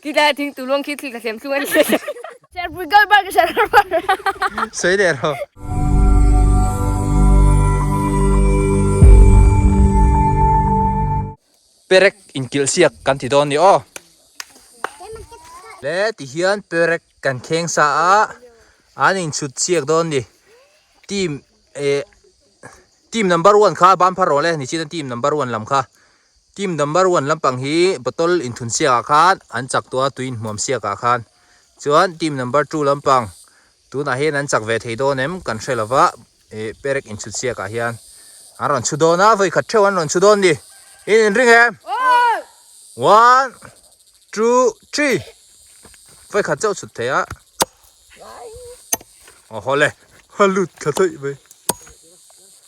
Khi tlai a thing tu luang khi thil ka hlemthlung a ni. Serpui kal bar ka serh har bar a. Sawi leh rawh. Perek inkilh siak kan ti dawn ni aw. Le ti hian perek kan kheng sa a, an inchhut siak dawn ni. Team eh team number one kha banphar rawh le, ni chin a team number one lam kha. Team number one lampang hi bottle in thun siakah khan an chak tawh a tui in hmuam siakah khan chuan team number two lampang tunah hian an chak ve thei dawn em kan hre lo va ih perek in chhut siakah hian an rawn chhu dawn a vawikhat theuh an rawn chhu dawn ni in in ring em one two three vawikhat chauh chhut thei a awh haw le a lut ka tawih mai.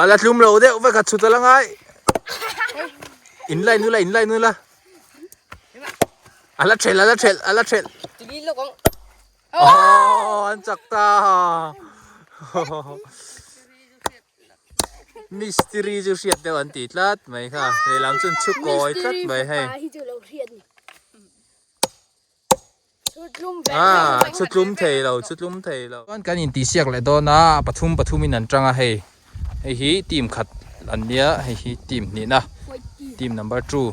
Ala tlum lo deuh vek a chhut a la ngai. In lai nu la in lai nu la. Ala chhel ala chhel ala chhel. Tili lo kong. Oh, an chak ta. Mystery chu hriat deuh an ti tlat mai kha. Leilam chun chhuk koi tlat mai hei. Aa chu tlum thei lo chu tlum thei lo chuan kan in tih siak leh dawn a pathum pathum in an tang a hei hei hi team khat an nia hei hi team hnihna team number two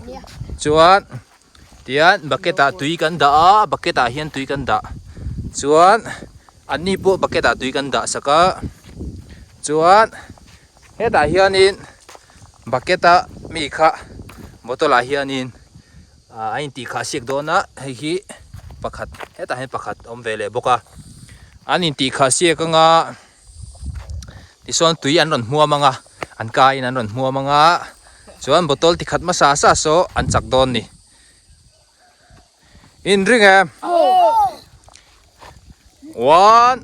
chuan tian bucket ah tui kan dah a a bucket ah hian tui kan dah chuan an ni pawh bucket ah tui kan dah sak a chuan hetah hianin bucket a mi kha bottle ah hianin-- Ahh a intih kha a siak dawn a, hei hi pakhat hetah hian pakhat a awm ve leh bawk a, an intih kha a siak anga tisawn tui an rawn hmuam anga an kaiin an rawn hmuam anga chuan bottle ti khat hmasa sa saw an chak dawn ni. In ring em? One.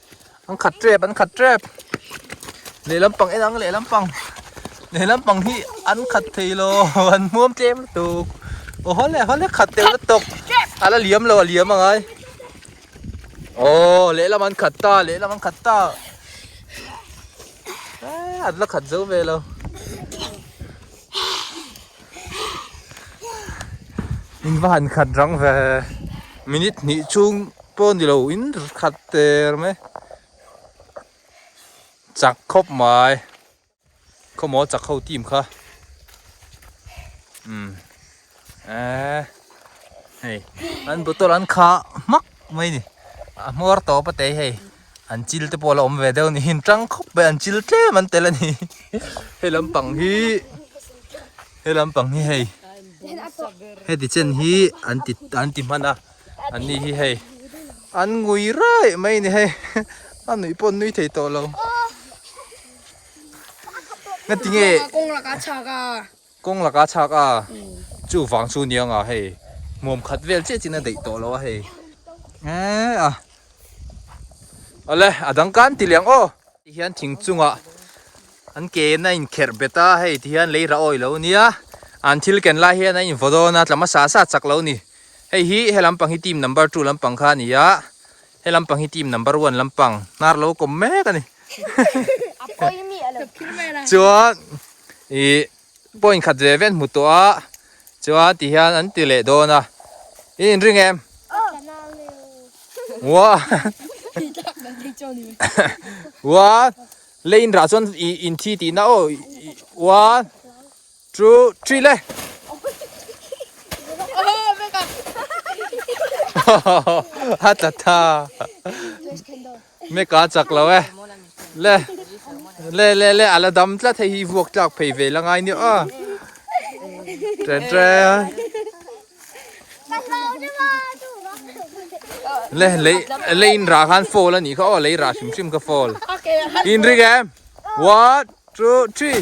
an khat tep an khat tep lehlam pang enang lehlam pang lehlam pang hi an khat thei lo an muam tlem tu o hole hole khat tel la tok ala liam lo liam angai o lehlam an khat ta lehlam an khat ta an la khat zo ve lo in va han khat rang ve minute hnih chung pawh ni lo in khat ter mai chak khawp mai khawmaw chak ho team kha umm. Eh, hei, an bottle an kha hmak mai ni. A hmuar tawh pa tei hei. An chil te pawh la awm ve deuh niin tang khawp mai an chil tlem an tel a ni. Hei lampang hi, hei lampang hi hei, heti chen hi an ti an ti hman a, an ni hi hei. An ngui raih mai a ni hei. A nuih pawh nui thei tawh lo. Ngatinge. Kawng lakah a chhak a. Kawng laka chhak a, chu vang chu niang a hei hmuam khat vel chiah chin a deih tawh lo a hei. Eeh a. Awle a dang kan ti liang aw. Ti hian thing chunga an ke na in kher bet a hei ti hian lei rah awi lo nia. An thil ken lai hian a in vaw dawn a tlama sa sa chak lo ni. Hei hi he lampang hi team number two lampang kha nia. He lampang hi team number one lampang hnar lo kawm mek a ni A pawi mi a lo phir mai a chuan i point khat ve ve an hmu tawh a chuan ti hian an ti leh dawn a i inring em ka tla nau leh u one lei inrah chuan i inthi tihna aw one Chu three le. Ha ta tha. Me ka chak lo e. Le. Le le le ala dam tla thei hi vuak tlak phei ve la ngai ni a. Tre tre. Le le le in ra khan fall ani kha o le ra hrim hrim ka fall. In ri game. One, two, three.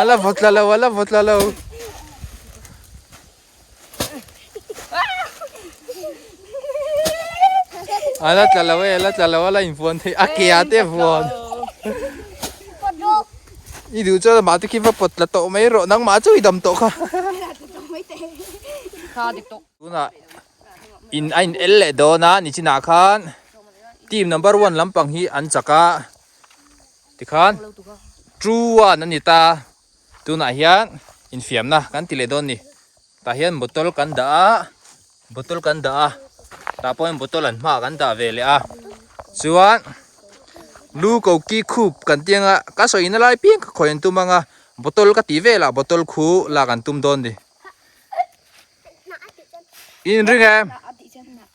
Ala vawtla lo, ala vawtla lo. Ala tla lo e, ala tla lo, ala in vuan thei. A kia te vuan. I du cho ma tu khi va pot la to mai ro nang ma chu i dam to kha. Kha dik to. Tuna in a in el le dona ni china khan team number 1 lampang hi an chaka Tikhan true a ni ta tunah hian infiamna kan ti leh dawn ni. Tah hian bottle kan dah a, bottle kan dah a, tah pawhin bottle an hma kan dah ve leh a. Chuan lu ko ki khup kan tih ang a, ka sawi na lai piang ka khawi an tum ang a, bottle ka tih velah bottle khu lak an tum dawn ni. In ring em?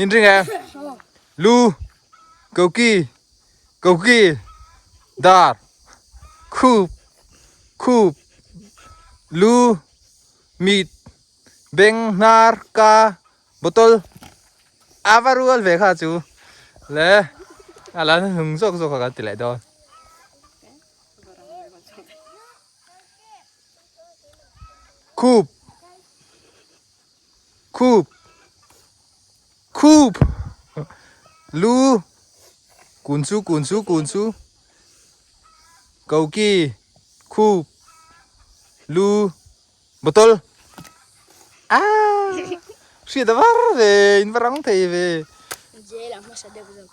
In ring e lu koki koki dar khup khup lu mit beng hnar ka bottle ava rual ve kha chu le ala hlung zawk zawk ka ti leh dawn khup Khup! Khup! Lu! Kun chu, kun chu, kun chu. Koki! Khup! Lu! Bottle! Aah! Hriat a var ve, in va rang thei ve. Jail ah hmasa deuh zawk.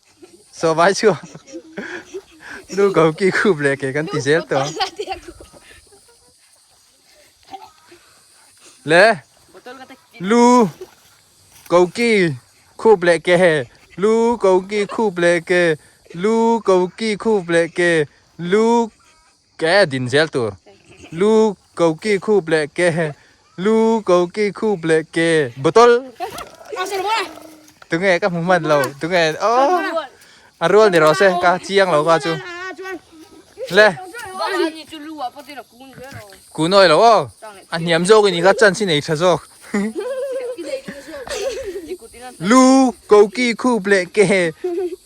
So vai chu Nu go ki khup le ke kan ti zel to Le Lu go ki khup le ke he Lu go ki khup le ke Lu go ki khup le ke Lu Ke din zel tur. Lu koki khup leh ke lu koki khup leh ke bottle tunge ka hmu man lo tunge a rual ni rawh se ka chiang lo ka chu le kun awi lo aw a hniam zawk i ni kha chansi nei tha zawk lu koki khup leh ke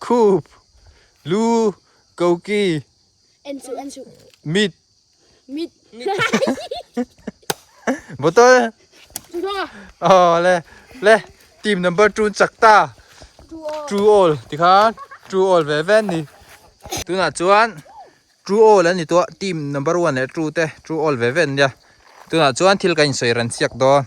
Khup, lu, koki. En suh, en suh. Mit. Mit. Bottle. Draw. Oh, le, le. Team number two chak ta. True all. True all. Ti khan, true all ve ve ni. Tuna chuan, true all an ni tua. Team number one leh two te, true all ve ve nia. Tuna chuan thil kan insawi ran chhiak dawn.